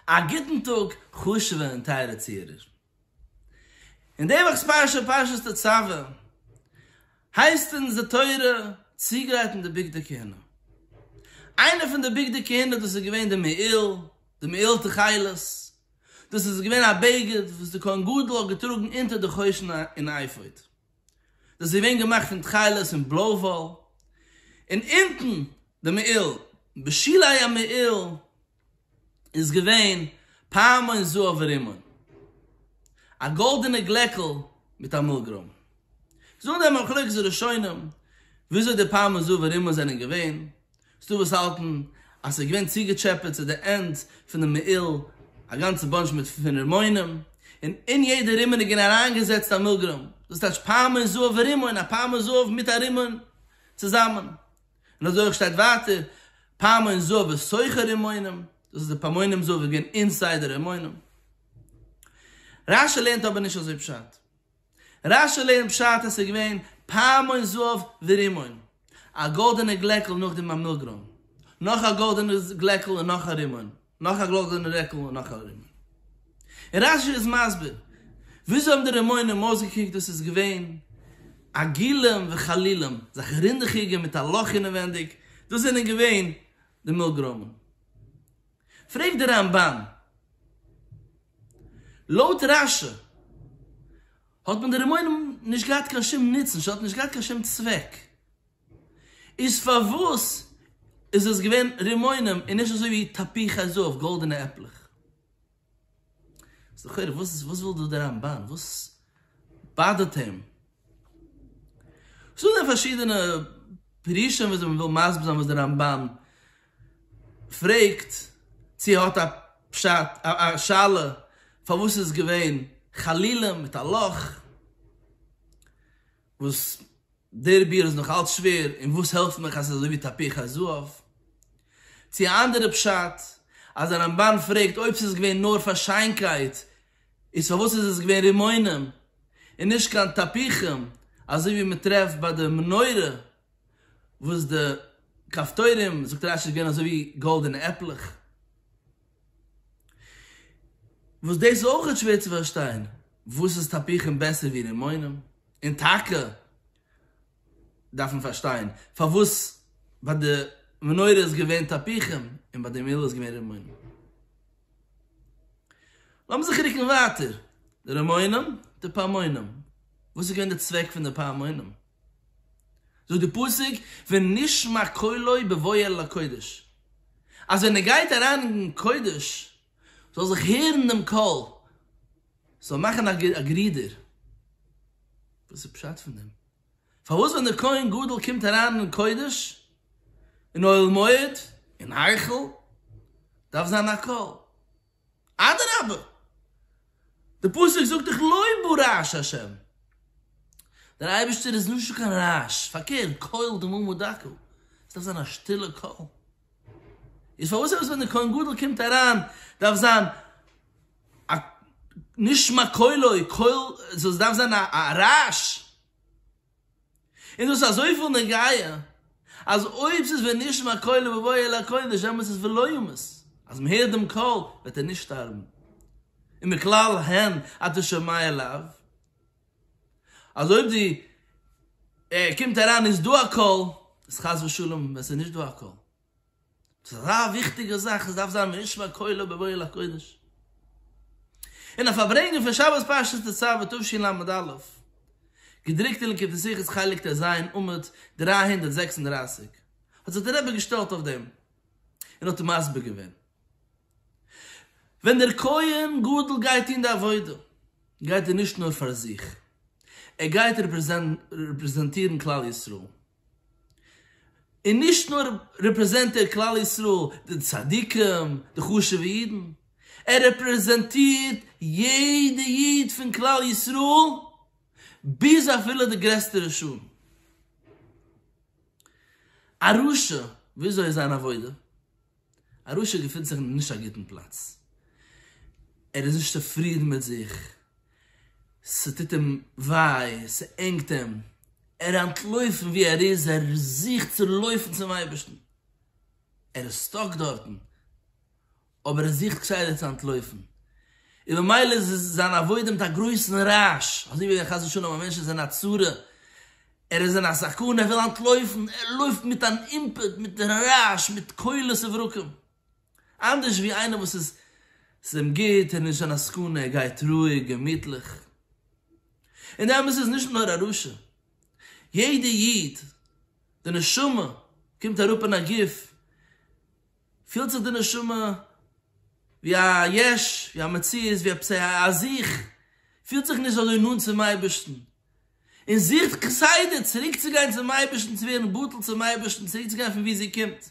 א גוטן טאג חשובע און טייערע צוהערער. אין די וואכ'ס פרשה, פרשת תצוה, הייסט אונז די תורה צוגרייטן די בגדי כהונה. איינע פון די בגדי כהונה דאס איז געווען די מעיל, די מעיל תכלת, דאס איז געווען א בגד וואס די כהן גדול האט געטראגן אונטער די חושן און אפוד. דאס איז געווען געמאכט פון תכלת און בלוי וואל. און אונטן די מעיל, בשלהי המעיל, איז געווען פעמון זהב ורימון, א גאלדענע גלעקל מיט א מילגרוים. זאגן די מחלוקת הראשונים וויאזוי די פעמון זהב ורימון זענען געווען, ס'איז דא וואס האלטן אז ס'איז געווען צוגעטשעפעט צו די ענד פונעם מעיל א גאנצע באנטש מיט פון רימונים, און אין יעדע רימון איז געווען אריינגעזעצט א מילגרוים, דאס טייטש פעמון זהב ורימון, א פעמון זהב מיט א רימון צוזאמען. און אזוי אויך שטייט ווייטער פעמון זאב איז סוחר אין מונים, דאס איז די פעמונים זאב איז געווען אינסיידער אין מונים. רשי לערנט אבער נישט אזוי פשט, רשי לערנט פשט אז ס'איז געווען פעמון זאב ורימון, א גאלדענע גלעקל נאך די ממילא גרם, נאך א גאלדענע גלעקל און נאך א רימון. נאך א גלאזערנע רעקל און נאך א רימון. און רש י איז מסביר וויאזוי האבן די רימונים אויסגעקוקט, דאס איז געווען עגילים וחלילים, זאך רינדעכיגע מיט א לאך אינעווענדיג, דאס זענען געווען די מילג רימון. פרעגט דער רמב ם, לויט רש י האט מען די רימונים נישט געהאט קיין שום נוצן, ס'האט נישט געהאט קיין שום צוועק. איז פארוואס איז עס געווען רימונים און נישט אזוי ווי תפוחי זהב גאלדענע עפלעך? איז לכאורה וואס וואס וויל דא דער רמבן? וואס באדערט אים? ס'דא דא פארשידענע פירושים וויאזוי מ'וויל מסביר זיין וואס דער רמבן פרעגט, צו ער האט א פשט, א שאלה פארוואס איז געווען חלילים מיט א לאך. וואס דער ביאור איז נאך אלץ שווער און וואס העלפט מיך אז ס'איז אזוי ווי תפוח הזהב, צו א אנדערע פשט אז הרמבן פרעגט אויב ס'איז געווען נאר פאר שיינקייט איז פארוואס איז עס געווען רימונים און נישט קיין תפוחים אזוי ווי מען טרעפט ביי די מנורה וואס די כפתורים זאגט רש י איז געווען אזוי ווי גאלדענע עפלעך. וואס דאס איז אויך נישט שווער צו פארשטיין, וואס איז תפוחים בעסער ווי רימונים? און טאקע דארף מען פארשטיין פארוואס ביי די מנורה איז געווען תפוחים און ביי די מילה איז געווען רימונים. לאמיר זיך רוקן ווייטער, די רימונים, די פעמונים, וואס איז געווען די צוועק פון די פעמונים? זאגט די פסוק ונשמע קולו בבואו אל הקודש אז ווען ער גייט אריין אין קודש זאל זיך הערן דעם קול, ס'זאל מאכן א גערודער. וואס איז פשט פון דעם? פארוואס ווען דער כהן גדול קומט אריין אין קודש, אין אוהל מועד, אין היכל, דארף זיין א קול? אדרבה, די פסוק זאגט דאך לא יבא רעש השם, דער אייבערשטער איז נישטא קיין רעש, פארקערט, קול דממה דקה, עס דארף זיין א שטילע קול, איז פארוואס אויס ווען דער כהן גדול קומט אריין דארף זיין א נשמע קולו, קול, ס'דארף זיין א רעש? איז דאס אזויפיל נוגיא אז אויב ס'איז ונשמע קולו בבואו אל הקודש דעמאלטס איז ולא ימות, אז מ'הערט דעם קול וועט ער נישט שטארבן, און מכלל הן אתה שומע אליו, אז אויב די ער קומט אריין איז דא א קול, איז חס ושלום ווען ס'איז נישט דא א קול. ס'איז אזא וויכטיגע זאך, עס דארף זיין ונשמע קולו בבואו אל הקודש. און א פארברענגען פון שבת פרשת תצוה תשי ל עמוד א', געדרוקט אין ליקוטי שיחות חלק ט ז עמוד דרײַ הונדערט זעקס און דרײַסיק, האט זיך דער רבי געשטעלט אויף דעם און האט מסביר געווען, ווען דער כהן גדול גייט טון די עבודה, גייט ער נישט נאר פאר זיך, ער גייט רעפרעזענטירן כלל ישראל, און נישט נאר רעפרעזענט ער כלל ישראל, די צדיקים, די חשוב'ע אידן, ער רעפרעזענטירט יעדע איד פון כלל ישראל, ביז אפילו די גרעסטע רשעים. א רשע, וויאזוי איז זיין עבודה? א רשע געפינט זיך אין נישט א גוטן פלאץ, ער איז נישט צופרידן מיט זיך, ס'טוט אים וויי, ס'ענגט אים, ער אנטלויפט פון וואו ער איז, ער זוכט צו לויפן צום אייבערשטן, ער איז סטאק דארטן, אבער ער זוכט כסדר צו אנטלויפן, און במילא איז זיין עבודה מיט א גרויסן רעש, אזוי ווי חס ושלום א מענטש איז אין א צרה, ער איז אין א סכנה, ער וויל אנטלויפן, ער לויפט מיט אן אימפעט, מיט רעש, מיט קולות וברקים. אנדערש ווי איינער וואס איז ס'איז אים גוט, ער איז נישט אין א סכנה, ער גייט רואיג, געמיטליך. און די אמת איז נישט נאר א רשע. יעדע איד, די נשמה קומט אראפ אין א גוף, פילט זיך די נשמה ווי א יש, ווי א מציאות, ווי עפעס א זיך, פילט זיך נישט אזוי נאנט צום אייבערשטן. און זוכט כסדר צוריקצוגיין צום אייבערשטן צו ווערן בטל צום אייבערשטן צוריקצוגיין פון וואו זי קומט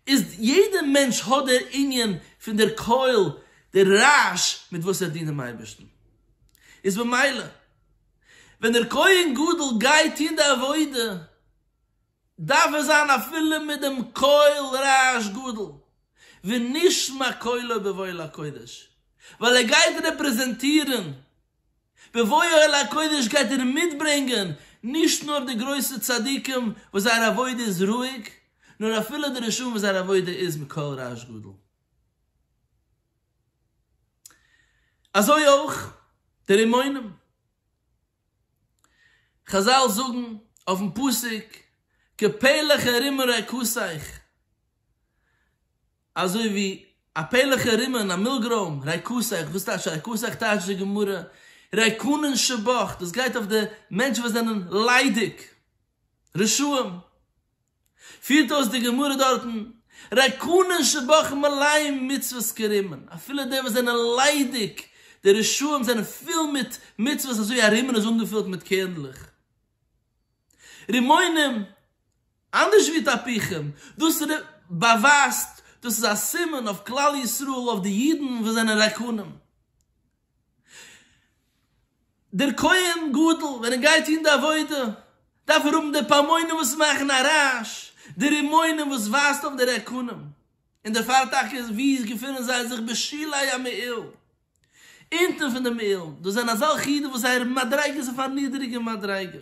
איז יעדע מענטש האט דער ענין פון דער קול דער רעש מיט וואס ער דינט דעם אייבערשטן איז במילא ווען דער כהן גדול גייט טון די עבודה דארף ער זיין אפילו מיט דעם קול רעש גדול ונשמע קולו בבהל הקודש ווייל ער גייט רעפרעזענטירן בבואו אל הקודש גייט ער מיטברענגען נישט נאר די גרויסע צדיקים וואס זייער עבודה איז רואיג, נאר אפילו די רשעים וואס זייער עבודה איז מיט קול רעש גדול. אזוי אויך די רימונים. חזל זאגן אויפן פסוק, קעפעלעך ארום רעקוסיך. אזוי ווי א פעלעכע רימען א מילגרוים רייקוסעך וואס טייטש רייקוסעך טייטש די גמרא רייקונען שבח דאס גייט אויף די מענטשן וואס זענען ליידיג רשעים פירט אויס די גמרא דארטן רייקונען שבח מלאים מצוות כרימען אפילו די וואס זענען ליידיג די רשעים זענען פול מיט מצוות אזוי א רימען איז אנגעפילט מיט קערנדלעך רימונים אנדערש ווי תפוחים, דאס ר באווייזט דאס איז א סימן אויף כלל ישראל אויף די אידן וואס זענען רעקנים. דער כהן גדול ווען ער גייט טון די עבודה דארף ער האבן די פעמונים וואס מאכן א רעש, די רימונים וואס ווייזט אויף די רעקנים, און דערפאר טאקע ווי געפונען זיי זיך בשולי המעיל. אונטן פון דעם אילן, דאס זענען אזעלכע אידן וואס זייער מדריגה איז אויף א נידריגע מדריגה.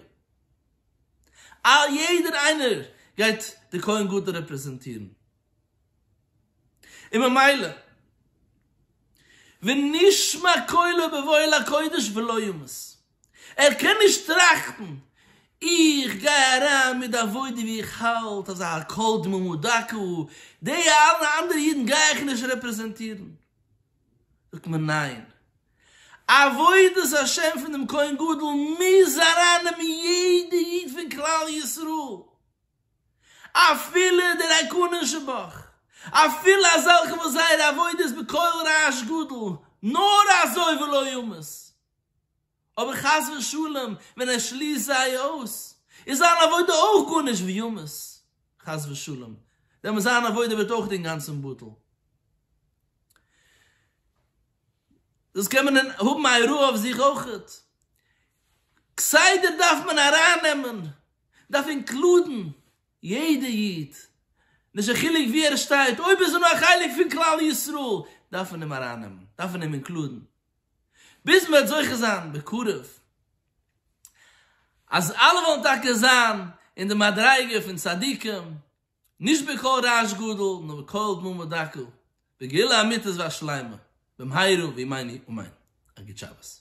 א יעדער איינער גייט די כהן גדול רעפרעזענטירן. און ממילא, ונשמע קולו באוהל הקודש ולא ימות. ער קען נישט טראכטן, איך גיי אריין מיט די עבודה ווי איך האלט אז הכל דממה דקה, די אלע אנדערע אידן גיי איך נישט רעפרעזענטירן. זאגט מען ניין, עבודת השם פון דעם כהן גדול מוז ארייננעמען יעדע איד פון כלל ישראל, אפילו דער הקנה שבך, אפילו אזעלכע וואס זייער עבודה איז בקול רעש גדול, נאר אזוי ולא ימות. אבער חס ושלום ווען ער שליסט זיי אויס איז זיין עבודה אויך גארנישט וימות חס ושלום, דעמאלס זיין עבודה ווערט אויך אינגאנצן בטל. דאס קען מען האבן א הוראה אויף זיך אויך. כסדר דארף מען ארייננעמען, דארף אינקלודן יעדע איד, נישט קיין חילוק ווי ער שטייט, אויב איז ער נאר א חלק פון כלל ישראל דארף מען אים ארייננעמען, דארף מען אים אינקלודן, ביז מ'וועט זוכה זיין בקרוב אז אלע וועלן טאקע זיין אין די מדריגה פון צדיקים, נישט בקול רעש גדול, נאר בקול דממה דקה, בגאולה אמיתית והשלימה, במהרה בימינו אמן. א גוט שבת.